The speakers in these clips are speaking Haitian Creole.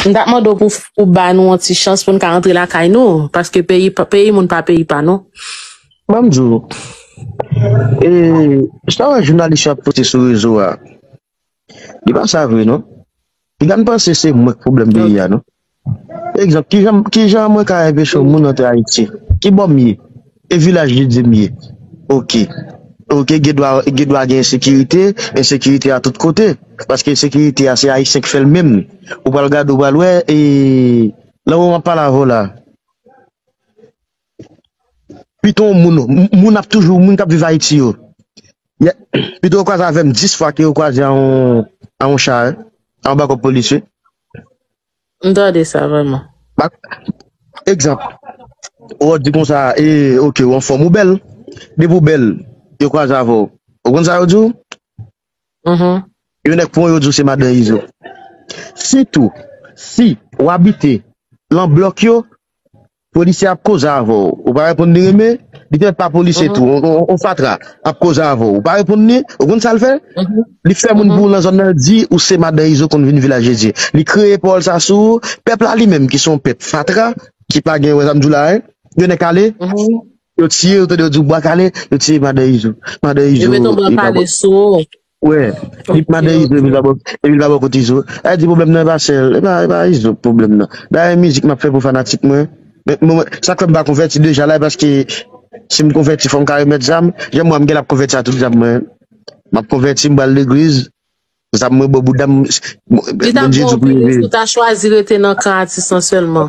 M tap mande w pou ou ba nou yon ti chans pou n ka antre lakay nou paske peyi peyi moun pa peyi pa nou. Ban m di w, e sa w wè jounalis yo ap poste sou rezo a, li pa sa vre non. Piga n panse se mwen k pwoblèm peyi a non. Egzanp, kijan kijan mwen ka enpeche yon moun antre Ayiti? Kibò m ye? E vilaj li dim ye ok ok gendwa gendwa gen ensekirite ensekirite a tout kote paske ensekirite a se ayisyen ki fèl menm ou pral gade ou pral wè e nan moman map pale avèw la piton moun moun ap toujou moun kap viv ayiti yo ya pito yo kwaze avèm 10 fwa ke yo kwaze a yon a yon cha anba kòb polisye. M tande sa vreman. Pa egzanp, ou ap di konsa, e, oke, ou anfòm, ou bèl. Depi ou bèl, yo kwaze avè w. Ou konn sa yo di w? Yon nèg pran w, yo di w se Madan Izo. Sitou, si ou abite lan blòk yo, Polisye ap koze avè w, ou pa reponn li renmen, li te mèt pa polisye tou, yon fatra ap koze avè w, ou pa reponn li, ou konn sa l fè? Li fè moun pou ou nan zòn nan di ou se madan Izo konn vin vilajedye. Li kreye pawòl sa sou ou, pèp la li menm ki se yon pèp fatra, ki pa gen wè sa m di w la a, yo nè kale, yo tiye, ou tande yo di w bwa kale, yo tiye madan Izo. Madan Izo. Yo mete yon bwa kale sou ou. Wè, li pman de izo epi li pa bò kot izo. Sa vle di pwoblèm nan e pa sèl, e pa izo k pwoblèm nan. Dayè mizik map fè pou fanatik mwen, sak fè m pa konvèti deja la e paske si m konvèti fò m ka remèt zam, janm wè m genlè ap konvèti a tout zam mwen. Map konvèti m pral legliz, zam mwen bò bouda m, Bondye di pou m leve. Li tap bon anpil si w ta chwazi rete nan kan atis lan sèlman.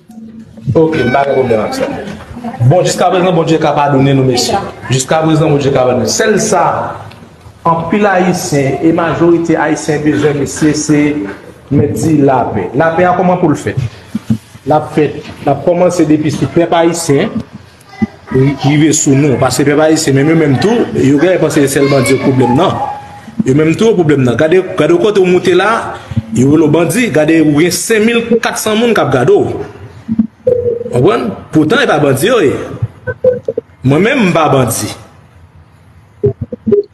Ok m pa gen problem ak sa. Bon jiskaprezan Bondye ka padone nou mesye. Jiskaprezan Bondye ka padone. Sèl sa anpil ayisyen e majorite ayisyen bezwen mesye se mèt di lapè. Lapè a kòman poul fèt? Lap fèt lap kòmanse depi sou pèp ayisyen. rive sou nou paske pèp ayisyen menm yo menm tou yo genlè panse se sèl bandi yo k pwoblèm nan yo menm tou yo pwoblèm nan gade w kote w moute la yo rele w bandi gade ou gen 5400 moun k ap gade w konprann poutan e pa bandi yo ye mwen menm m pa bandi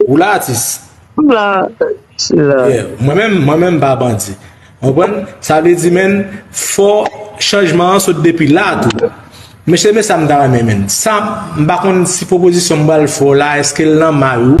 ou la atis mwen menm m pa bandi Konprann sa vle di menn fò chanjman an sot depi la tou. Mesye men sa m ta renmen menn. Sa m pa konn si pwopozisyon m pral fè w la eske l nan may ou.